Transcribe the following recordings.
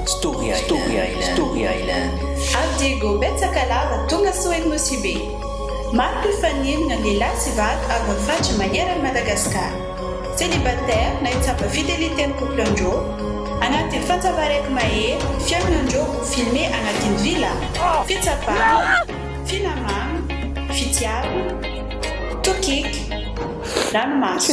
Story Island, Story Island, Story Island. Avy Diego betsaka lava tonga Soweto Nosy Be. Maro mpifaninana lehilahy sy vavy avy amin'ny faritra maneran'i Madagascar. Célibataire na hitsapa fidelité ny couple ndrô? Anatin'ny fantsava raiky mahery fihaonana ndrô ho filmer anatin'ny villa? Fitsapana, finamana, fitiavana, tokiky, ranomaso.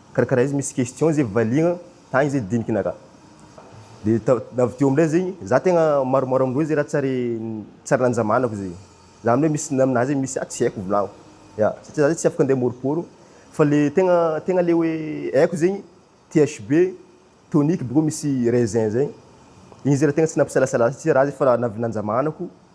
Karakaraha izy misy question zay valiagna tagny zay dinigna ka de avy teo amizay zegny za tegna maromaro amindreo zay raha tsy ary tsy ary nanjamanako zay za amle misy aminah zay misy tsy aiko volagno ya satria za tsy afaka ande amoriporo fa le tegna tegna le hoe aiko zegny THB tonique boka misy raisin zay igny zay raha tegna tsy nampisalasala satria raha zay efa avy nanjamanako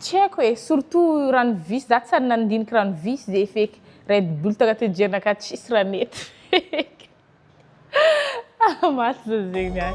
Tsy haiko e, surtout rano visy, za tsy ary nandinika rano visy ze feky, red bull taka tenjerina ka tsisy raha nety feky. Ah maty za zegny ah.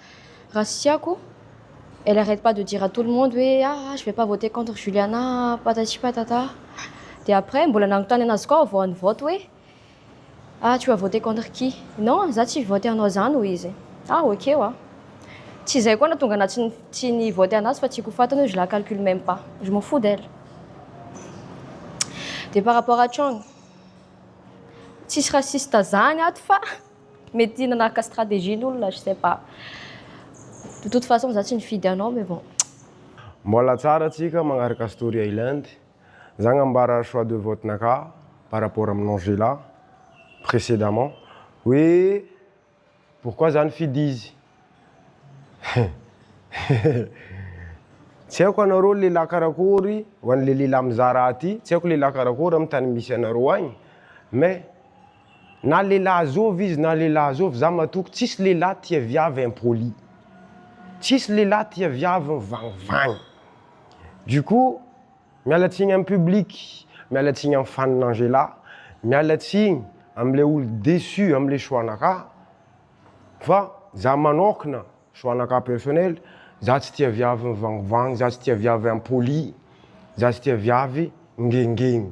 Raha tsy tiako, elle arrête pas de dire à tout le monde hoe ah ah je vais pas voter contre Juliana ah patati patata. Dia après mbola nanontany anazy koa aho vao nivote hoe ah tu as voté contre qui? Non ah za tsy hivote anao zany hoy izy. Ah ok hoy aho. Tsy izay koa no nahatonga anahy tsy tsy nivote anazy fa tiako ho faty anie hoe je la calcule même pas. Je m'en fous d'elle. Dia par rapport à Chong, tsisy raciste zany ato fa. Mety nanaraka stratégie ny olona, je sais pas. De toute façon za tsy nifidy anao mais bon. Mbola tsara tsika magnaraka story island, za agnambara choix de vote naka par rapport amin Angela précédemment hoe pourquoi za nifidy izy tsy aiko anareo lelah karakory ho anle lelah mizaha raha ty tsy aiko lelah karakory am tany misy anareo agny mais Na lehilahy zovy izy na lehilahy zovy za matoky tsisy lehilahy tia viavy impoli. Tsisy lehilahy tia viavy mivagnivagny. Du coup, miala tsigny am public, miala tsigny am fan Angela, miala tsigny am le olo deçu am le choix nakà, fa za manokana, choix nakà personnel, za tsy tia viavy mivagnivagny, za tsy tia viavy impoli, za tsy tia viavy ngengegny.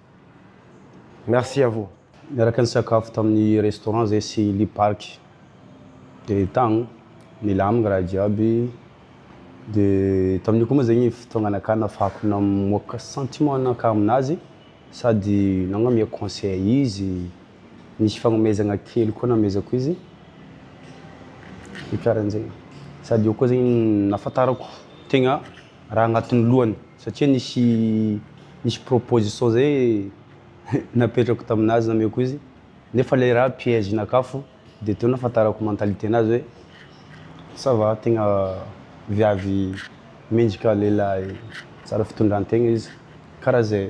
Merci à vous. Niaraka nisakafo tamin'ny restaurant zay sy Lee Park de tagny nilamigny raha jiaby de tamin'io koa moa zegny fotoagnanakah nafahako namoaka sentiment nakah aminazy sady nagnome conseil izy nisy fagnomezagna kely koa namezako izy de karahan'zegny sady eo koa zegny nahafantarako tegna raha agnatin'ny lohany satria nisy nisy proposition zay napetrako taminazy nameko izy nefa le raha piège nakafo de teo nafantarako mentalité nazy hoe ça va tegna viavy mendrika lehilahy tsara fitondrantegna izy karaha zay.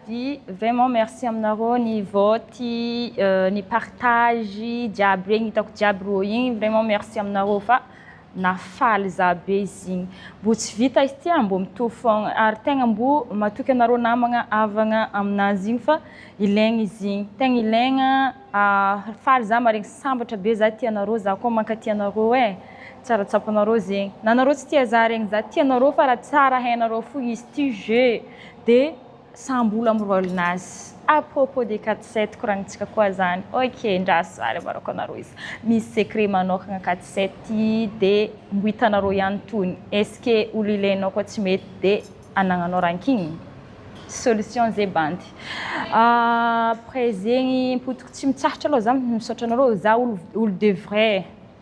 Di vraiment merci aminareo ni vote ni partage jiaby regny hitako jiaby rô igny vraiment merci aminareo fa nafaly za be izy igny mbo tsy vita izy ty a mbo mitovy fôgna ary tegna mbo matoky anareo namagna avagna aminazy igny fa ilaigny izy igny tegna ilaigna faly za maregny sambatra be za tia anareo za koa mankatia anareo e tsara tsapanareo zegny na anareo tsy tia za regny za tia anareo fa raha tsara hainareo fo izy ty jeu de Sa mbola mirôlina azy? A propos des quatre sept koragnitsika koa zany ok ndraso zah ry avarako anareo izy misy secret manôkagna quatre sept ty de mbo hitanareo ihany tony est-ce que olo ilainao koa tsy mety de anagnanao ranking? solution ze bandy après zegny mpotiko tsy mitsahatra aloha zah misaotra anareo zah olo olo de vrai.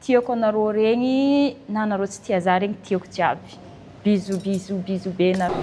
Tiako anareo regny na anareo tsy tia za regny tiako jiaby bisous bisous bisous be nareo.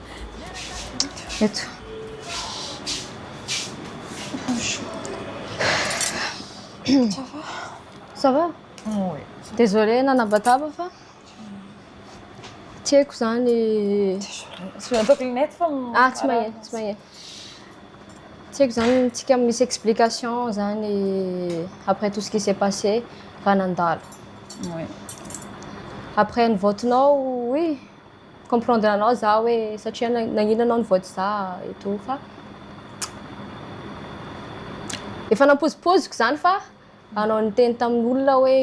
Eto. Ça va? Oui. Désolé nanabataba fa tsy haiko zany Tsy maintsy ataoko lunette fa m- ah tsy magnino tsy magnino tsy haiko zany tsika misy explication zany après tout ce qui s'est passé raha nandalo Oui. après ny vote-nao oui comprendre anao za hoe satria nagnina anao nivoady za eto fa efa nampozipoziko zany fa anao niteny tamin'olona hoe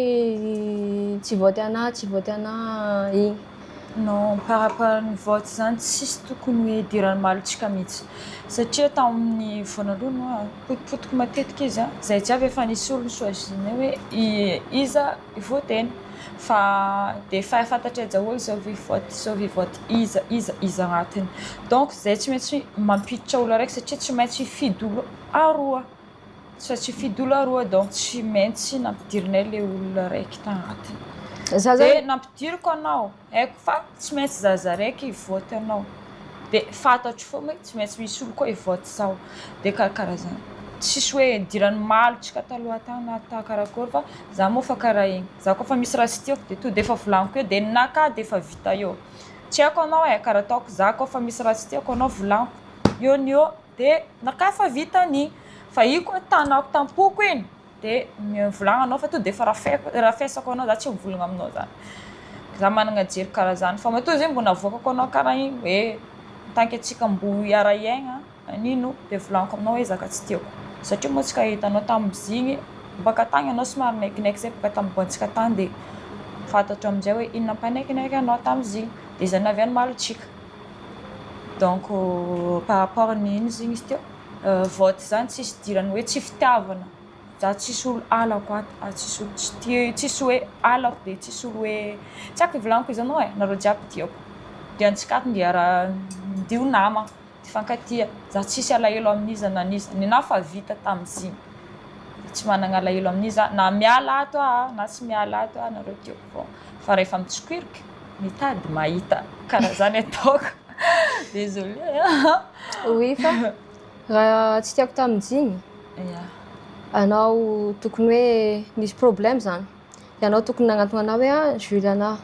tsy voady anah tsy voady anah iny non par rapport ny vote zany tsisy tokony hoe idiran'ny malontsika mihitsy satria tamin'ny voanaloany potipotiky matetika izy zay jiaby efa nisy olony choisinay hoe iza voateny fa dia efa fantatrey daholo izao vy vote izao vy vote iza iza iza agnatiny donc zay tsy maintsy mampiditra olo araiky satria tsy maintsy hifidy olo aroa tsy maintsy hifidy olo aroa donc tsy maintsy nampidirinay le olona araiky tagnatiny za zany nampidiriko anao Haiko fa tsy maintsy zaza raiky hivote anao, dia fantatro foana hoe tsy maintsy misy olona koa hivote zao, dia karakara zany. Tsisy hoe hidiran'ny malotsika taloha tany na ta karakory fa za moa efa karaha iny. Za koa efa misy raha tsy tiako dia tonga dia efa volaniko eo dia ninakà dia efa vita eo. Tsy haiko anao e, karaha ataoko za koa efa misy raha tsy tiako anao volaniko eo ny eo dia nakà efa vita ny fa iny koa tanako tam-poko iny. dia mivolagna anao fa to dia efa rafeko rafesako anao za tsy mivolagna aminao za za managna jery karaha zany fa matoa zay mbo navoakako anao karaha igny hoe en tant que antsika mbo hiara hiaigna anino dia volagniko aminao hoe zaka tsy tiako satria moa tsy ka hitanao tamizigny baka tagny anao somary naikinaiky zay baka tam boantsika tagny dia fantatro amizay hoe inona mpanaikinaiky anao tamizigny dia zay naviagny malo tsika donc par rapport ny ino izy igny izy teo Vote zany tsisy idirany hoe tsy fitiavana za tsisy olo halako ato a tsisy olo tsy tia tsisy hoe halako de tsisy olo hoe tsy ako ivolaniko izy anao e nareo jiaby tiako de antsika ato ndia ra ndio nama tifankatia za tsisy alahelo aminiza na niza nenaha fa vita tamiziny de tsy managna alahelo aminiza na miala ato aho na tsy miala ato aho nareo tiako foagna fa refa mitsikoirika Mitady mahita karaha zany ataoko. Désolé a. Oui fa raha tsy tiako tamin'ny jigny, anao tokony hoe nisy problème zany. Ianao tokony nagnantona anah hoe ah Juliana ah,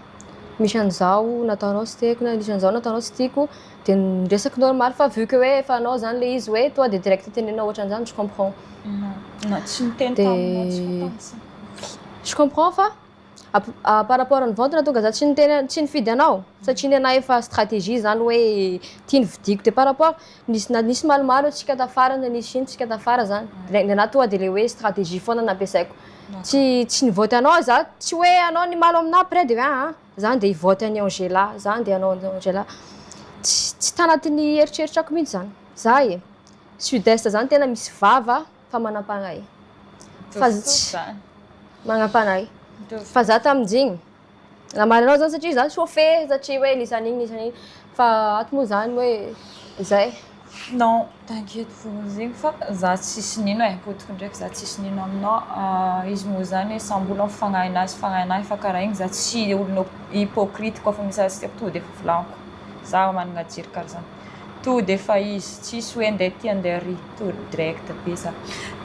misy an'izao nataonao tsy tiako na nisy an'izao nataonao tsy tiako, de niresaka normal fa vu que hoe efa anao zany le izy hoe tonga de direct tenenao ohatran'zany, je comprends. Na tsy niteny taminao tsy ho tantsaha. Je comprends fa. par rapport ny vente nahatonga za tsy niteny tsy nifidy anao satria nenahy efa stratégie zany hoe ity ny vidiko de par rapport nisy na nisy maromaro antsika tafara na nisy ino tsika tafara zany de nenahy tonga de le hoe stratégie foana nampiasaiko tsy tsy nivote anao za tsy hoe anao ny malo aminahy après de hoe aa zany de hivote an'i Angela zany de anao an'i Angela tsy tsy tanatin'ny eritreritrako mihitsy zany za e sud est zany tena misy vava fa manampanahy. Fa manampanahy. Fa za tamin'jigny namaly anao zany satria za chauffeur satria hoe nisany igny nisany igny fa ato moa zany hoe zay. Non, t'inquiète pour zegny fa za tsisy nino e, potiky ndraiky za tsisy nino aminao. Ah, izy moa zany hoe samy olona mifagnahy anazy fagnahy anahy fa karaha igny za tsy olona hypocrite koa fa misy raha tsy tiako tonga de efa volaniko. Za managna jery karaha zany. To de efa izy tsisy hoe ndeha aty ndeha ary to direct be za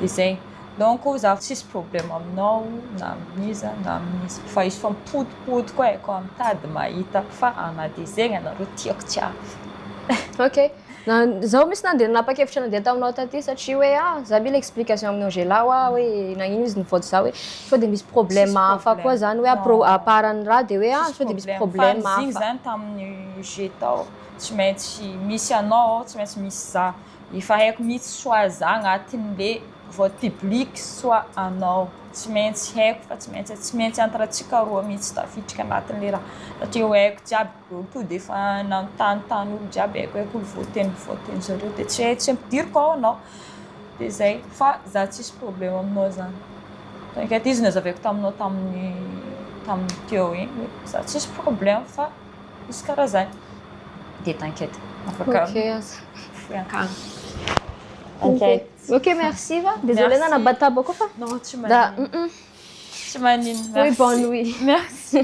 de zay donc za tsisy problème aminao na amin'iza na amin'iza fa izy fa mipodipodiko e koa mitady mahita fa ana de zegny anareo tiako tsy avy. Ok na zaho mintsy nandeha nanapakevitra nandeha taminao taty satria hoe ah za mila explication amin'i Angela hoa hoe nagnino izy nivoatra za hoe sao de misy problème hafa koa zany hoe à part an'i ra de hoe ah sao de misy problème hafa. Fa ny zigny zany tamin'ny UG tao Tsy maintsy misy anao ao, tsy maintsy misy za. Efa haiko mihitsy soa za agnatin'le vote public soa anao. Tsy maintsy haiko fa tsy maintsy tsy maintsy entre antsika roa mihitsy tafiditra agnatin'le raha. Satria ho haiko jiaby, olo to dia efa nanontany tany olo jiaby haiko haiko ny vote vote zareo dia tsy tsy ampidiriko ao anao. Dia zay, fa za tsisy problème aminao zany. T'inquiète izy nazavaiko taminao tamin'ny tamin'ny teo igny hoe za tsisy problème fa. Misy karazany. Dia t'inquiète. Afaka mifoy ankagny. Ok, ok merci va, désolé nanabataba koa fa non tsy maninona, tsy maninona, oui bonne nuit, merci.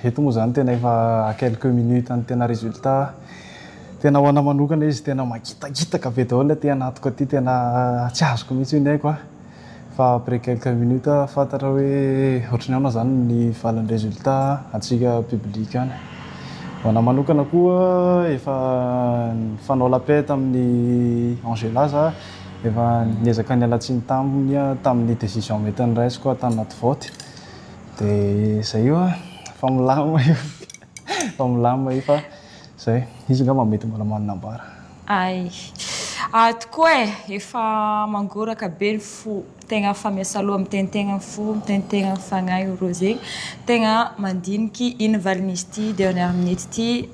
Eto moa zany tena efa à quelques minutes ny tena résultat. Tena ho anah manokana izy tena mangitakitaka be daholo aty anatiko aty tena tsy azoko mihitsy io ny aiko a. Fa après quelques minutes aho fantatra hoe ohatry ny ahoana zany ny valin'ny résultat antsika public any. Ho anah manokana koa efa nifanao la paix tamin'i Angela za, efa niezaka niala tsiny taminy tamin'ny décision mety niraisiko tanaty vote. Dia izay io an, efa milamina io, efa milamina io fa izay, izy angamba mety mbola manana ambara. Hay. Ahy tokoa e, efa mangoraka be ny fo, tegna efa miasaloha, miteniteny ny fo, miteniteny ny fagnahy io Rose, tegna mandiniky ino valin'izy ity dernière minute ity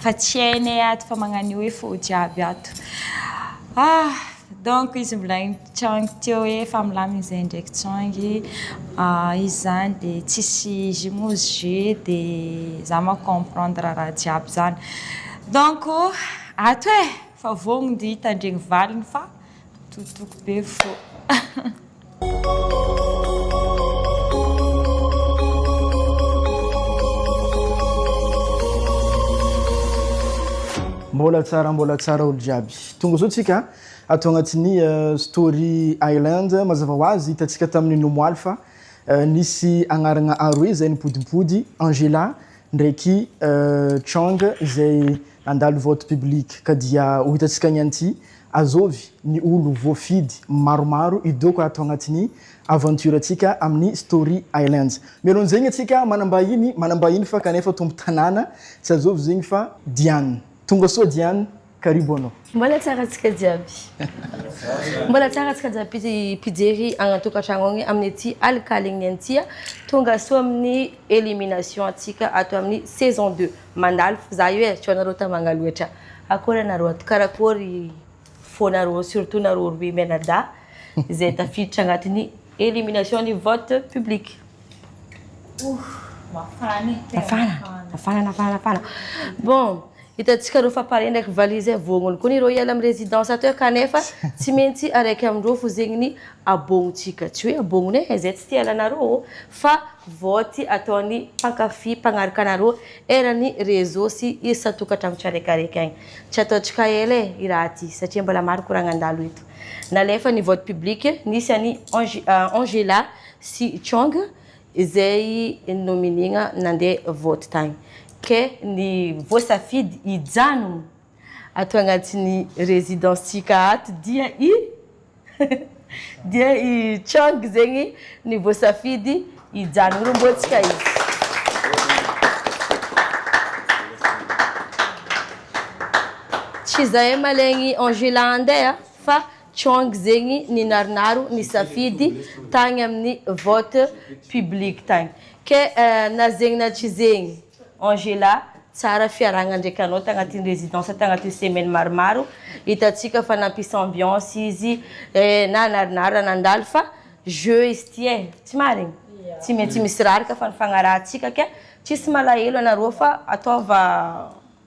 fa tsy hainay ato fa magnan'io hoe faux jiaby ato, ah! donc izy mbola. Tsaoingy teo hoe efa milamina izay ndraiky tsaoingy ah, izy zany de tsisy jus moa izy jus de za manko comprendre raha jiaby zany donc ato eh! fa vognogno de hitandregny valiny fa totoiko be fo. Mbola tsara mbola tsara olo jiaby. Tonga zao tsika. Ato agnatin'ny Story Island, mazava ho azy, hitantsika tamin'ny nomoaly fa nisy agnaragna aroe izay nipodimpody, Angela ndraiky Chang izay nandalo vote public. Ka dia ho hitantsika ny an'ity, azovy ny olo voafidy maromaro hidoaka ato agnatin'ny aventure antsika amin'ny Story Island. Mialohan'ny zegny antsika manambahiny, manambahiny fa kanefa tombo tanàna, tsy azovy zegny fa Diane. Tonga soa Diane. Karibu anao. Mbola tsara antsika jiaby. Mbola tsara antsika jiaby mpijery any an-tokantrano any amin'ny ity alikalen'ny an'i Tia. Tonga soa amin'ny elimination antsika ato amin'ny saison deux. Mandalo fo za io e, sao nareo tamanga loatra. Akory anareo ato, karakory foanareo surtout nareo roe mianadahy izay tafiditra agnatin'ny elimination ny vote public. Ouh, mafana e, tena mafana. Mafana, mafana, mafana, mafana. Bon, Hitantsika ireo famparendraky valiha izay voangony koa ny ireo hiala amin'ny residence teo kanefa tsy mentsy araiky amin'ireo fozegniny abognintsika, tsy hoe abogny hoe izay tsy te hiala anareo ô, fa vote ataon'ny mpankafy mpagnaraka anareo eran'ny réseau sy isan-tokantrano tsiaraikaraiky agny. Tsy ataontsika ela e, i raha ty, satria mbola maro koragna handalo eto. Nalefa ny vote public, nisy an'i Angela sy Chong, izay nominiana nandeha vote tany ke ny voasafidy hijanona ato anatin'ny residence-tsika ato dia i dia i Chang zegny ny voasafidy hijanona romboantsika izy tsy zahay malegny Angela andeha fa Chong zegny ninarinaro nisafidy tagny aminy vote public tagny ke na zegny na tsy zegny Angela tsara fiarahagna ndraiky anao tagnatiny residence tagnatiny semaine maromaro hitatsika fa nampisy ambiance izy na narinara nandalo fa jeux izy ty e tsy marigny tsy maintsy misy raraka fa nifagnarahantsika ke tsisy malahelo anareo fa ataova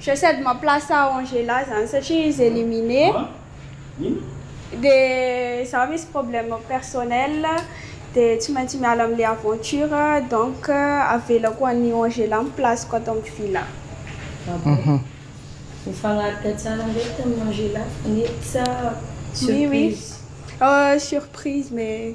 J'essaie de ma place à Angela zany satria izy éliminer de za misy problème personnel de tsy maintsy miala amle aventure donc avelako any Angela ny place-ko ato am villa. Ah bon? Mifagnaraka tsara ndraiky tamin'i Angela fa nety sa surprise? Oui oui, surprise mais.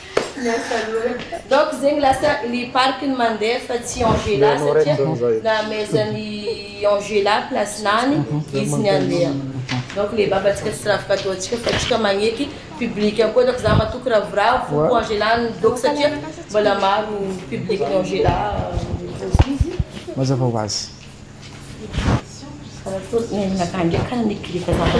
Miasa loha. Donc zegny lasa ny parc ny mandeha fa tsy Angela satria namezan'i Angela place nany izy ny andeha. Donc le babantsika tsy rafy k'atao antsika fa tsika magneky public koa donc za matoky ravoravo ho Angela ny donc satria mbola maro public ny Angela mipozy izy. Mazava ho azy. Zara to ny ainakah ndray kara nigrika zara.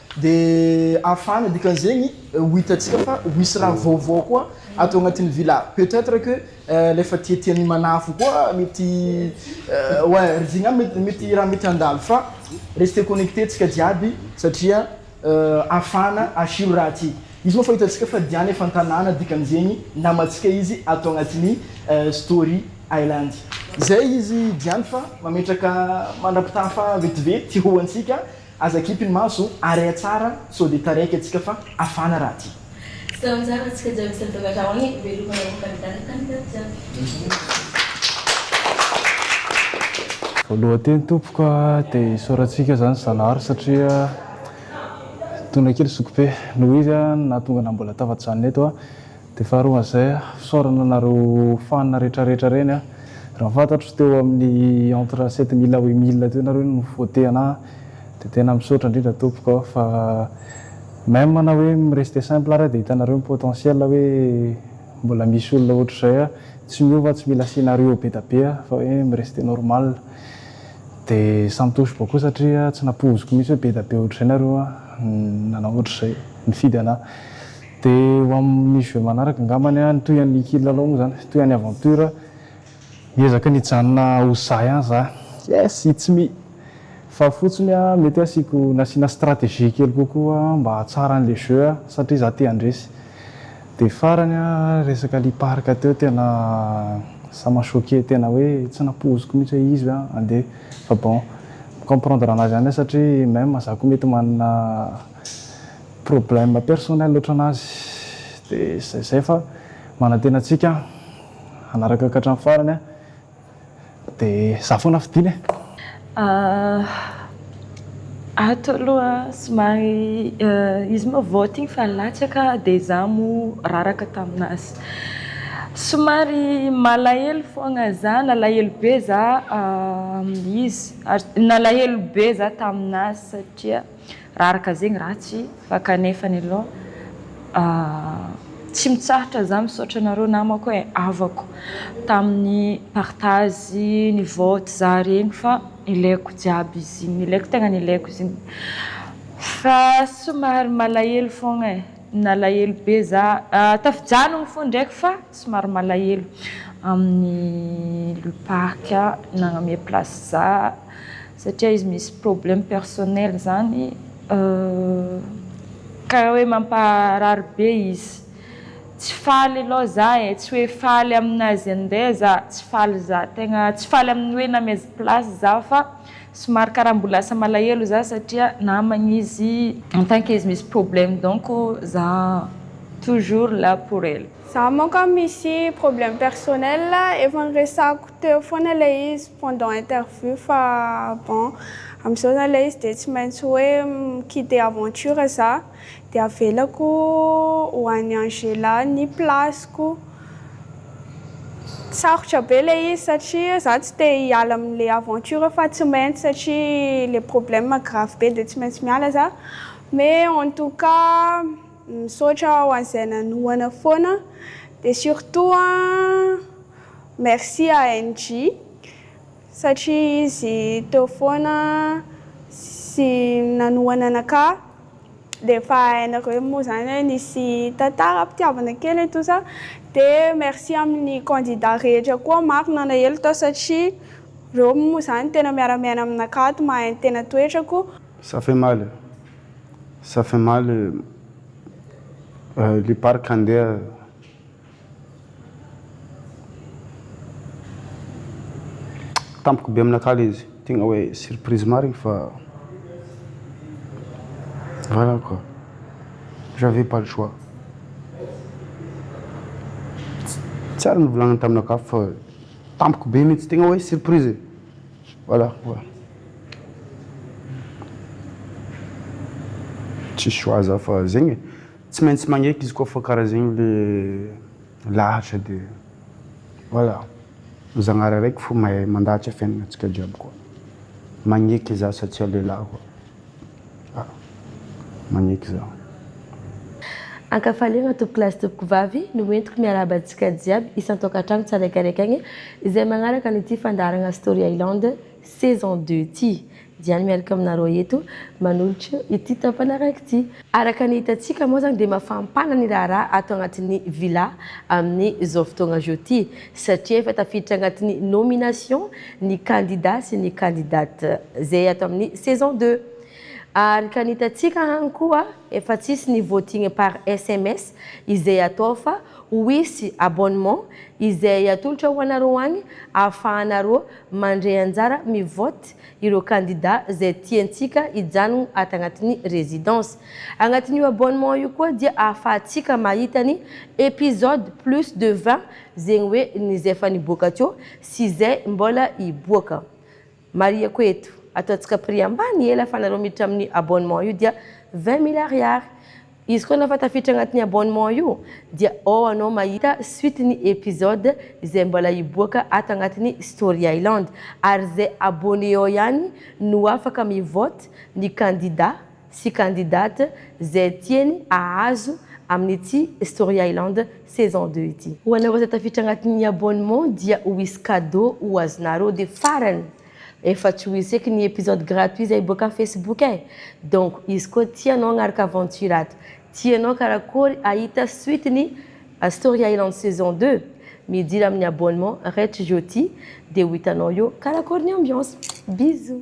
Dia afana, dikan'izegny ho hitantsika fa ho hisy raha vaovao koa ato agnatin'ny villa. Peut être que lay efa tiatian'i Manafo koa mety ouais ry Jigna mety mety raha mety handalo fa restez connectés tsika jiaby satria afana asiro raha ty. Izy moa efa hitantsika fa Diana efa an-tanàna dikan'izegny namantsika izy ato agnatin'ny Story Island. Zay izy Diana fa mametraka mandrapitafa vetivety ho antsika. Aza kipy ny maso o! Area tsara sao dia taraiky antsika fa hafana raha aty. Tsy tao anjara ny tsika jiaby isany taogatra ao any velomana ho kandida ny kandida jiaby. Voalohan-teny tompoko a dia isaorantsika zany Zanahary satria tonona kely zokibe noho izy nahatonga anah mbola tafajanona eto a. Dia faharoa an'izay, fisaorana anareo fan retraretra ireny a! Raha fantatro teo amin'ny entre sept mille à huit mille teo nareo no vote anahy dia tena misaotra indrindra tompoko aho fa même na hoe mi-rester simple ary aho dia hitanareo ny potentiel hoe mbola misy olona ohatr'izay a! Tsy miova tsy mila scenario be da be aho fa hoe mi-rester normal dia samy touche boko satria tsy nampoiziko mihitsy hoe be da be ohatr'izay nareo a! nanao ohatr'izay, nifidy anahy. Dia ho amin'ny jeux manaraka angambany an, ny toy an'ny kilalao moa izany, toy an'ny aventure, hiezaka ny hijanona ho za ihany za. Yes! It's me! Fa fotsiny an, mety hoe asiako, nasiana stratégie kely kokoa mba hahatsara an'ilay jeux an, satria za te handresy. Dia farany an, resaka lia parc teo tena ça m'a choqué, tena hoe tsy nampoiziko mihitsy hoe izy ve an, andeha. Fa bon, mi-comprendre anazy ihany aho satria même za koa mety manana. Problème personnel otran'azy de zay zay fa manantena antsika hanaraka ka hatramin'ny farany a! de za foana fidiny e! Ahh ato aloha somary izy moa voting fa latsaka de za moa raraka taminazy somary malahelo foagna za nalahelo be za izy ary nalahelo be za taminazy satria Raraka zegny ratsy fa kanefany aloha tsy mitsahatra za misaotra anareo namako e havako tamin'ny partage ny vote za regny fa ilaiko jiaby izy igny ilaiko tegna ilaiko izy igny fa somary malahelo fogna e nalahelo be za tafijanogno fo ndraiky fa somary malahelo amin'ny le parc nagname place za satria izy misy problème personnel zany karaha hoe mampaharary be izy, tsy faly aloha za e, tsy hoe faly aminazy andeha za, tsy faly za, tegna tsy faly amin'ny hoe namaizy place za fa somary karaha mbola lasa malahelo za satria namagny izy en tant que izy misy problème donc za toujours là pour elle. Za manko an misy problème personnel efa niresahako teo foana ilay izy pendant interview fa bon amizao zany ilay izy de tsy maintsy hoe mi-quitter aventure za de avelako ho an'i Angela ny place-ko. Sarotra be ilay izy satria za tsy te hiala amin'ilay aventure fa tsy maintsy satria le problème grave be de tsy maintsy miala za mais en tout cas. Misaotra ho an'izay nanohana foana dia surtout merci à NJ satria izy teo foana sy nanohana anakah dia efa hainareo moa zany hoe nisy tantaram-pitiavana kely eto sa dia merci amin'ny candidat rehetra koa maro nanahelo tao satria reo moa zany tena miara-miaina aminakahy ato mahay ny tena toetrako. Ça fait mal e! Ça fait mal e! Le parc handeha tampoka be aminakahy le izy, tegna hoe surprise marigny fa voilà quoi, j'avais pas le choix, tsy ary nivolagniny taminakahy fa tampoka be mintsy, tegna hoe surprise e! Voilà quoi. Tsy choix za fa zegny e. Tsy maintsy magneky izy koa fa karaha zegny le lahatra de voilà. Zagnahary araiky fo mahay mandahatsa fiaignagnantsika jiaby koa. Magneky za satsia lehilahy koa. Magneky izaho. Ankafaliana tompokolahy sy tompokovavy, no entiko miarahaba antsika jiaby isan-tokantrano tsaraikaraikany izay magnaraka an'ity fandaharagna Story Island saison deux ity. Diany miaraka aminareo eto manolotra ity tapany araiky ity. Araka ny hitantsika moa izany dia mafampana ny raharaha ato anatin'ny Villa amin' izao fotoana izao ity satria efa tafiditra anatin'ny nomination ny kandida sy ny kandidate izay ato amin'ny saison deux. Arka ny hitantsika any koa efa tsisy ny voting par sms izay atao fa ho hisy abonnement izay atolotra ho anareo any ahafahanareo mandray anjara mivote ireo kandida izay tiantsika hijanogno ato agnatin'ny residence. Agnatin'io abonnement io koa dia ahafahantsika mahita ny episode plus de vingt zegny hoe ny izay efa niboaka teo sy izay mbola hiboaka. Marihako eto, ataontsika prix ambany ela fa nareo miditra amin'ny abonnement io dia vingt mille ariary. Izy koa efa tafiditra agnatin'ny abonnement io dia ao anao mahita suite ny episode izay mbola hiboaka ato agnatin'ny Story Island ary zay abonné ao ihany no afaka mivote ny candidat sy candidate zay tiany ahazo amin'ity Story Island saison deux ity. Ho anareo zay tafiditra agnatin'ny abonnement dia ho hisy cadeau ho azonareo de farany Efa tsy ho hisy eky ny episode gratuit izay hiboaka amin'ny Facebook eh! Donc izy koa tia anao hanaraka aventure ato. Tianao karakory hahita suite ny Story Island saison deux? Midira amin'ny abonnement Rech Jyoti dia ho hitanao eo karakory ny ambiance. Bisous!